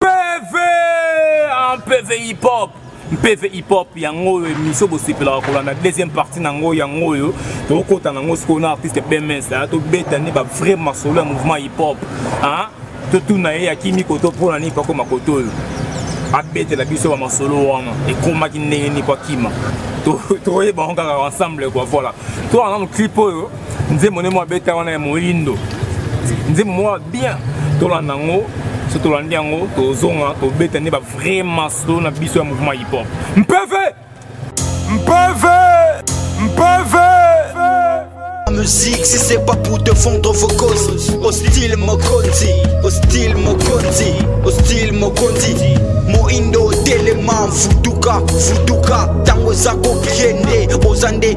pv en pv hip hop mpeve hip-hop yango oyo emission bosepelaka kolanda deuxième partie na yango yango oyo tokokota na yango sikoyo na artiste bms tobeta nde ba vrai masolo ya mouvement hip-hop totuna ye akimi koto mpo na nini mpo akoma koto oyo abetela biso bamasolo wana ekomaki ndenge nini mpo akima toyeba yango kaka ensemble kua voilà to wana moclip oyo nzembo nde mwa beta wana ya moyindo nzembo mwa bien tolanda yango so tolandi yango tozonga tobeta nde bavrai maso na biso ya mouvement hiphop mpeve mpeve mpeve musique si c'est pas pour te fondre vos causes hostile mokonzi hostile mokonzi hostile mokonzi moindo telema futuka futuka ntango eza kopie nde oza nde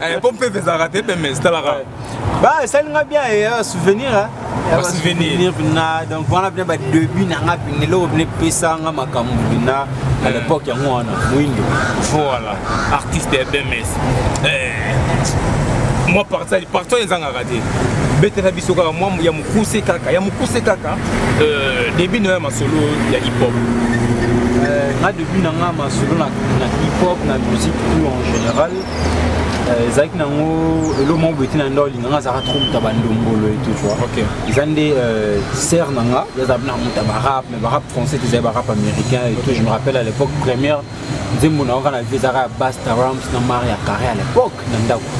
Eh, po mpe ezalaka te mpe mais talaka ba esali nga bien eh, ya souvenir eh. souvenir na donc wana bina badebut na nga bina eloko bina epesa nga makambo bina à l'époque yango wana moindo voilà artiste ya bms mwa partage partage ezangaka te betela biso kaka mwa ya mokuse kaka ya mokuse kaka euh, debut na yo ya masolo ya hip hop nga debut na nga masolo na hip hop na musique tout en général ezalaki nango elo moko boye te na nda olinganga azalaka trop moto ya bandombolo etu tu eza nde euh, ser na nga yazala na moto ya barap mais barap français te ezali barap américain etu je me rappelle à l'époque première nzembo na yoka na vie ezalaka ya basta rams na mari ya carré à l'époque na ndako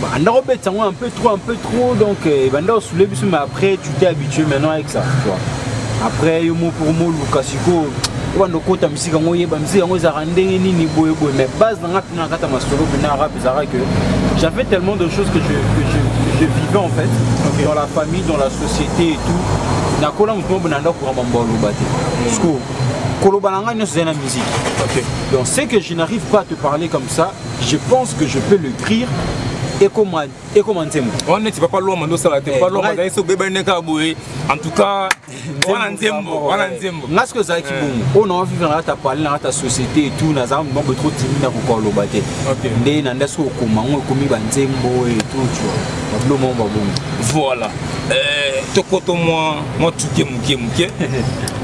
banda kobetisa yango un peu trop un peu trop donc euh, banda osule biso mais après tu t'es habitué maintenant avec ça tu vois après yo moko moluka sikoyo obanda okota musique yango oyeba musique yango ezalaka ndenge nini boye boye mais base na nga mpena na kati ya masolo mpena rap ezalaka que j'avais tellement de choses que je, que je, que je vivais en fait okay. dans la famille dans la société et tout nakola moto moko na ndako kamba mbo aloba te parceque koloba na ngai nyonso ezali na musique okay. donc ce que je n'arrive pas à te parler comme ça je pense que je peux le crier ekoma nzembo wana neti papa lwama nde osala te papa lwama azali so obebani nde kaka boye en tout cas wana nzembo wana nzembo nga soki ezalaki eh. bongo oyo nanga vivre nanga ta parle nanga ta société etout naza mambo trop timi na kokoka loba te nde na nda soki okoma yango ekomi banzembo etout tu babilo moko babongo voilà eh, tokoto mwa mwa tuke moke moke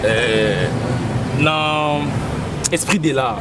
eh, na esprit de l'art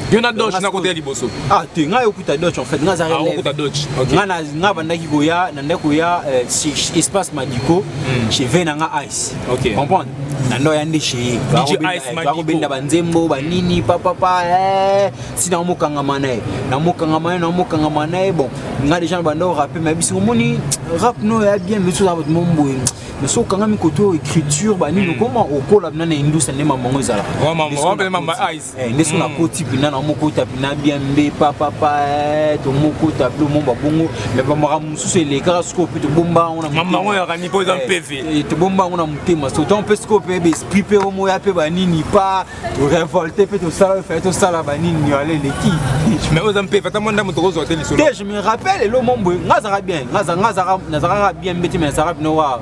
yo na doge nakota ya liboso ah te ngai okuta doge en fait ngai azalaki ah, okuta doge ngai na ngai bandaki koya na ndako ya euh, espace madiko hmm. chez ve na ngai ice ok comprendre na ndo ya nde chez bakobenda banzembo banini papapa eh, si na mokangama na ye na mokangama ye na mokangama na ye bon ngai deja na banda orape ma biso omoni rap no ya bien biso oza bato momboye mais soki okangami koto écriture banini hmm. okoma okola bina na indusa nde mamango ezalaka Eh, nde so mm. nakoti mpena na mokota mpena bien mbe papapa eh, tomokota mpe omomba bongo me bamakambo mosusu elekaka sikoyo mpe tobomba yango na mamango yaka nipo eza eh, mpeve tobomba yango na motema so ntango mpe sikoyo mpe baesprit mpe omoya mpe banini pa torevolte mpe tosala fai tosala banini yala eleki me oyo eza mpeve ata mwa ndambo tokozwa te lisolo te je me rappelle elo momboye nga azaka bien nga nazaka bien mbe te me nazaka bino wa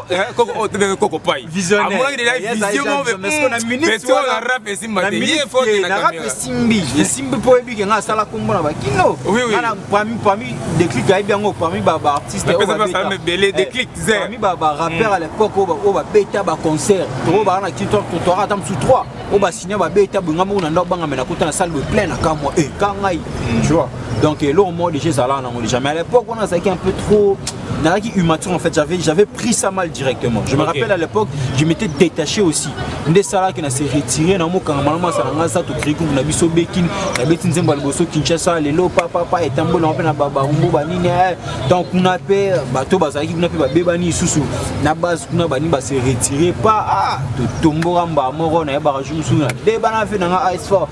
Eh, koko oyo oh, tobenge koko pai amonaki deja vision moko peto na rap esimba te ye fote na kamera esimbi esimbi mpo oyebi ke ngai asala kombo na bakino ngana parmi parmi déclic ayebi yango parmi baartiste ebele eh, déclic ze parmi barappeur mm. à l'époque oyo babeta baconcert toko baa na kitoire totoaka ata mosu 3 oyo basigne babeta bonga moko na ndako bangamela kota na salle de plein na kamwa e eh, ka ngai mm. tu vois donc eloko moko deja ezalaka nango deja mais à l'époque wana azalaki un peu trop nazalaki immature en fait j'avais j'avais pris ça mal directement je me okay. rappelle à l'époque je m'étais détaché aussi nde esalaki na se retire na mokanga malamu asala ngai sato krikuku na biso bekini nabeti nzembo ya liboso kinshasa lelo papapa etamboli yango mpe na babarumbu banini eh, donc kuna mpe bato bazalaki kuna mpe babebani lisusu na base kuna bani base retire pa ah, totomboka mbaa moko nayebaka jour mosusu nabebana mpe na ngai asfort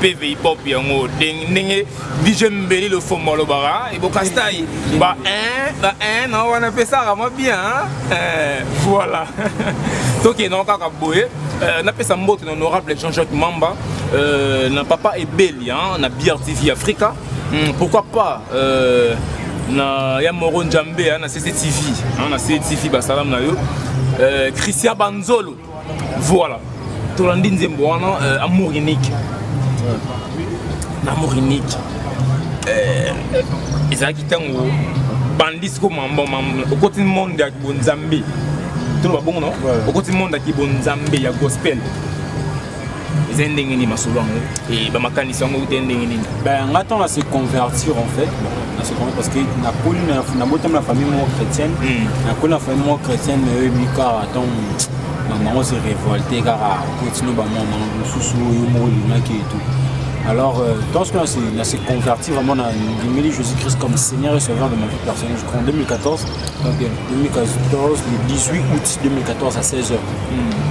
PVI Pop yango ndenge DJ Mbeli le fond malobara et Bokastai ba un ba un na wana pesaka mwa bien euh voilà toke na kaka boye euh, na pesa mbote na honorable Jean-Jacques Mamba euh, na papa ebeli hein, na brtv africa hmm, pourquoi pas euh, na ya moro njambe hein, na cctv hein, na cctv basalamu na yo euh, christian banzolo voilà tolandi nzembo wana euh, amour unique na amour unique euh, ezalaki ntango bandisi ko mambo okoti monde ya bonzambe toloba bongo no okoti monde ya kibonzambe ya gospel eza ndenge nini masolo yango e, bamakanisi yango euta ndenge nini ben nga ntango na se convertir en fait na se convertir parce que nakoli nabotami na famille moko chrétienne hmm. nakoli na famille moko chrétienne mais oyebi kaka ntango bango se révolte kaka kotino bango bango mosusu oyo moko olingaki etou Alors, euh, dans ce cas-là, c'est converti vraiment à Dimili Jésus-Christ comme Seigneur et Sauveur de ma vie personnelle. Je crois en 2014, okay. 2014, le 18 août 2014 à 16h. Mm.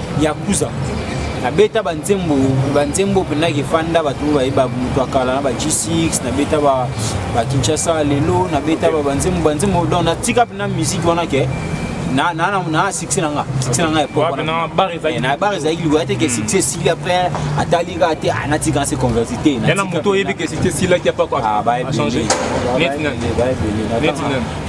yakuza nabeta banzembo banzembo mpenza kefanda bato oyo bayeba moto ya kala na ba g6 nabeta bakinshasa lelo nabeta banzembo banzembo donc natika mpenza miziki wana ke na na na succès nanga succès nanga epoque na bar ezali na bar ezali liwa te que succès si après atali ka te ana tika se converti te na moto yebi que succès si la qui a pas quoi ah ba changer net net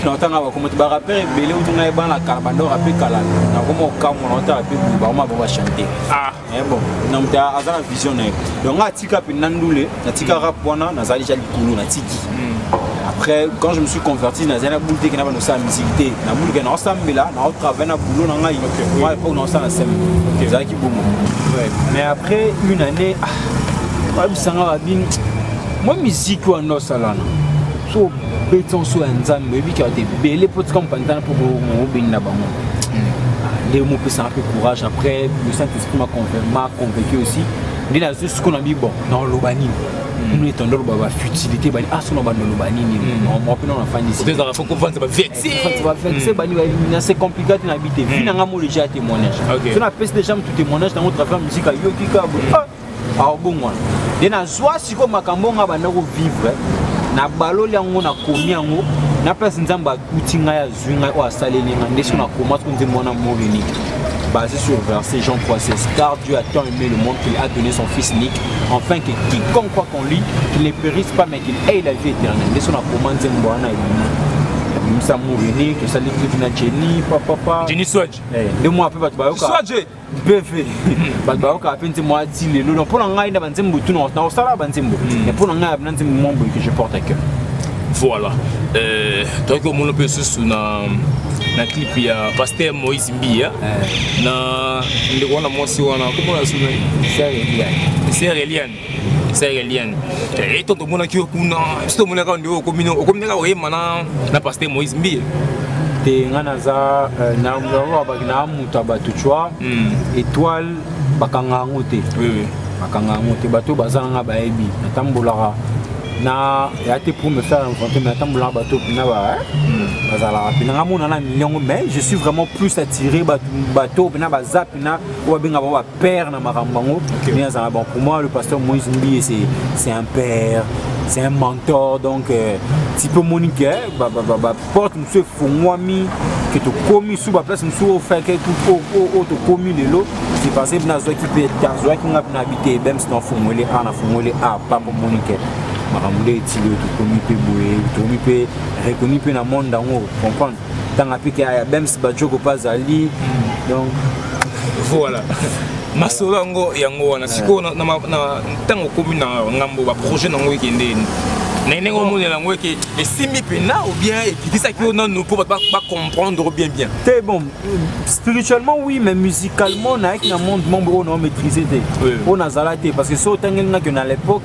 naotanga bakoma te barapere ebele utu ngai bana kala bandoko ape kala nakoma okamwa naotala mpe boye bakoma bango bachante ah. eh bon na moto aza na vision na ye donc ngai atika mpe na ndule natika rap wana nazali ja likolo natiki hmm. après quand je me suis converti nazali na boule te kena banosala misiki te na boule ke naosambela naotravaille na boulot na ngai moi époque naosala na seme ezalaki bongo mais après une année ah, oyebisanga babini mwa miziki wana osalana beti nso ya nzambe oyebi kaka te ebele mpo tika mopanzana mpo obeni na bango hmm. nde mopesaka mpe courage après le saint esprit ma convaincu aussi nde nazo siko na bibo naoloba nini hmm. nini etondo oloba bafutilité bani aso ah, na bando oloba nini hmm. mwa mpe nao nafandisiezaka fo kovanza bavexe bani na se compliqué te na bi te vi na ngai mo déjà témoignage so napesi déjà motu témoignage nango travers musika yoki kabo aobongwana de nazwa sikoyo makambo nga banda kovivre nabaloli yango nakomi yango na place nzambe akuti ngai azwi ngai oyo asaleli ngai nde soki nakoma soki nzembo wana mot unique basé sur verset Jean 3, 16. Car Dieu a tant aimé le monde qu'il a donné son Fils unique, afin que quiconque croit qu'on lit, qu'il ne périsse pas, mais qu'il ait la vie éternelle. Nde so nakoma nzembo wana ebimisa morini tosali clip na jeni papapa jeni swage eh, nde mwa mpe bato bayoka beve bato bayokaka mpe nzembo ya ti lelo donc mpo na ngai na banzembo tu nakosalaka banzembo hmm. mais mpo na ngai abina nzembo mwa boye que je porte à cœur voilà euh, toyaki omona mpe susu na na clip ya paster moïse mbiya eh. na ndeko wana mwasi wana komona suna ser eliane sahelien eh, eto tomonaki yo kuna biso tomonaka nde okomino okominaka oyema na paster moïse mbiye te nga naza euh, naolobaki na moto ya bato cua hmm. étoile bakanga yango te bakanga yango te bato oyo baza nanga bayebi natambolaka na ya te pour me faire rencontrer mais atambolaka bato mpena eh? hmm. bazalaka mpena nga monana miliongo mais je suis vraiment plus attiré bato mpena baza mpena oyo babengaka père na makambo yango okay. mais azala bon pour moi le pasteur moïse mbiye c'est c'est un père c'est un mentor donc euh, ti mpe omoni ke baporte mosusu efungwami ke tokomi su baplace mosusu oyo fake oyo tokomi lelo c'est parce que nazwaki mpe azwaki nga mpe na bi te bems na ofungweli a na fungweli a papa omoni ke makambo nde etili oyo tokomi mpe boye tokomi mpe reconnu mpe na monde yango comprendre tanga mpe ke aya bems bajoko mpe azali donc voilà masolo yango yango wana sikoyo ntango okomi na ngambo baprojet na yango ekende na ndenge omonela yango eke esimbi mpena ou bien ekitisaki yo nanu mpo bato bacomprendre bien bien te bon spirituellement oui mais musicalement nayaki na monde membre oyo nao maîtrise te oyo nazala te parce que so otangelinaki na l'époque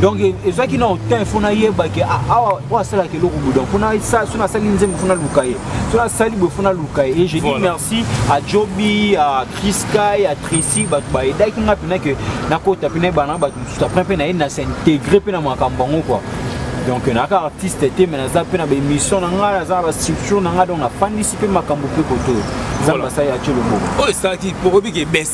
donc ezwaki na otin fo nayeba ke ah, awa oyo asalaka eloko boye donc fona so nasali nzembo fo naluka ye so nasali boye fo naluka ye et je dis merci à jobi à chriskai à tracy bato baedaki nga mpena ke nakota mpe nayeba na bato mosusu apres mpe naye nase integre mpe na makambo yango kua donc naka artiste te me naza mpe na baémission na ngai naza na bastructure na ngai donc nafandisi mpe makambo mpe koto nzambe asali atie loboko oyo esalaki mpo obiki ebese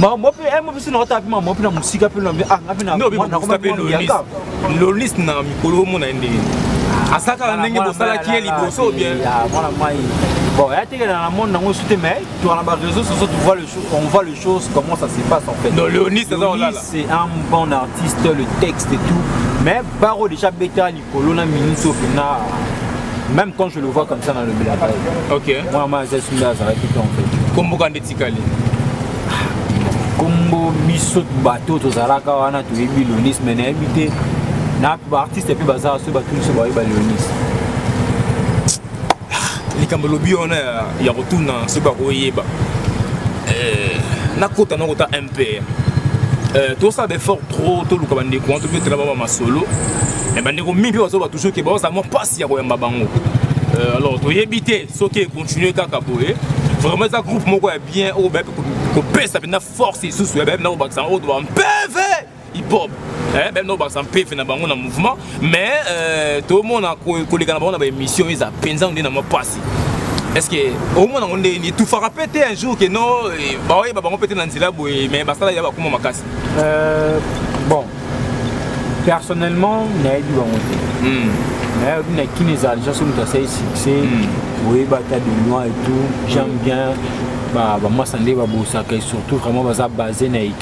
mamopi eh, mopesi na ota api mamopi na mosika mpe lobi ah, ngapi na lolis na mikolo omona ye ndenge asakaka ndenge bosalaki ye liboso bien mwana mai bon ya tekela na monde nango esu te mais toka na baréseau soso on voit les choses comment ça se passe en fait non leonis c'est un bon artiste le texte et tout mais baro déjà beta kolona minute oyo mpenza même quand je le vois comme ça dans le bilaka ok mwana mwana aza esumbi azalaki te en fait komboka nde etikali kombo biso bato tozalaka wana toyebi lonis me nayebi te na baartiste mpe bazala soki bato biso bayeba leonis likambo lobi wana ya kotuna soki bakoyeba eh, nakota nakota père euh, tosala baeffort trop toluka bandeko wana tobetela baba masolo me bandeko mingi mpe bazoloba toujours ke bazala mwa mpasi ya koyamba bango euh, alors toyebi te soki econtinue kaka boye vraiment eza groupe moko ya bien oyo bayebi kopesa mpenza force lisusu ya bayebi na kobakisa yango oyo toba mpeve hip hop eh, meme nao bakisa mpefe na bango na mouvement mais euh, tomona koleka na bango na baémission eza mpenza nde na mwa mpasi est-ce que omona yango nde etufaka mpe te un jour ke no eh, baoyeba bango mpe te na nzela boye mais basala ya bakoma makasi euh, bon personnellement nayebi bango te hmm. nayebi na kini ezala déjà so moto asali succès hmm. oyeba ata de loin et tout j'aime hmm. bien bamasa nde babosaka surtout vraiment baza base na équipe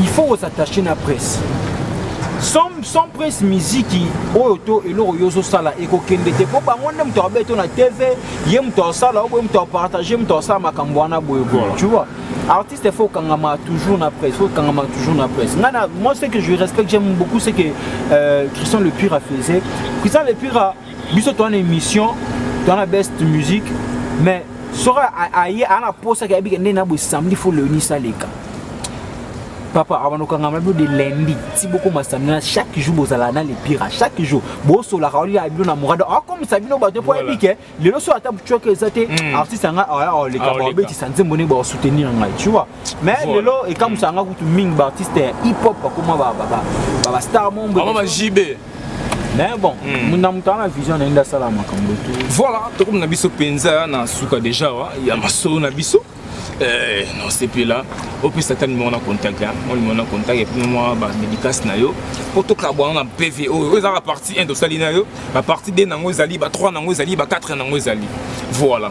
il faut ko s'attacher na presse sans, sans presse miziki oyo to eloko yo ozosala ekokende te mpo bango nde moto akobe to na tv ye moto asala oboye moto apartage moto asala makambo wana boye boye tu vois artiste il faut kangama toujours na presse faut kangama toujours na presse nga na moi ce que je respecte j'aime beaucoup c'est que euh, Christian le Pire a faisait Christian le Pire a biso toa na émission toa na best musique mais soki aye aa na posa ke ayebike nde na boye samedi fo leoni saleka papa abanda okangama bino de lundi ti bokoma samedi na chaque jour bozala na le pire chaque jour bosolaka olia bino na morada akomisa bino bato mpo ayebi ke lelo so ata butioke eza te hmm. artiste anga oleka ah, babetisa nzembo nde baosoutenir ngai tu vois mais lelo ekamwisa nga kutu mingi baartiste hip hop bakoma bastar mombre mais bon hmm. na moto ana vision naye nde asala makambo tu voilà tokomi na biso mpenza na suka deja wa ya masolo na biso eh, nosepela opesa ata nimero na contact mwa nimero na contact epuis mwa bamédicace na yo mpo tokabwana na pv oyo oyo ezalaka partie 1 tosali na yo bapartie 2 nango ezali ba 3 nango ezali ba 4 nango ezali voilà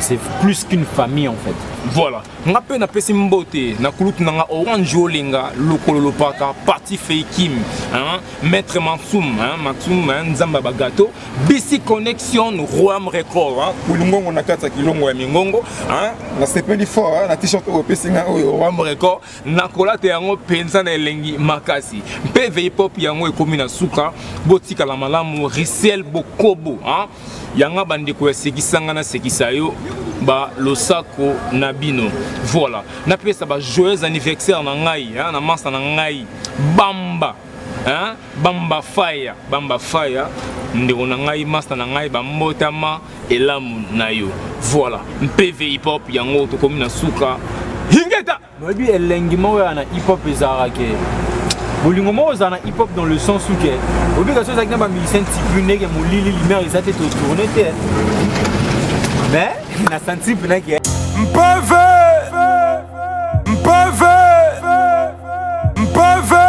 c'est plus qu'une famille en fait voilà nga mpe napesi mbote na kulutu na nga orange olenga lokolo lopaka parti feikim hein? maître mansum hein? mansum hein? nzambe ya bagato bisi connexion roam record hein? kulungongo na kati ya kilongo ya mingongo hein? nasepeli fort hein? na t-shirt oyo opesi nga oyo roam record nakolata yango mpenza na elengi makasi mpe veipop yango ekomi na suka botikala malamu risiel bokobo hein? yanga bandeko ya sekisanga na sekisa yo ba losako na bino voilà napesa ba joyeux anniversaire na ngai hein, na mansa na ngai bamba hein? bamba faya bamba faya ndeko na ngai masta na ngai bambotama elamu na yo voilà mpv hip hop yango tokomi na suka hingeta Boyebi elengi moko ya na hip hop ezalaka ke bolingo moko ozala na hip hop dans le sens uke oyebi kasi ozalaki na bamusicien tipu ndenge molili lumière eza te totourne te mais na santi mpena ke mpeve mpeve mpeve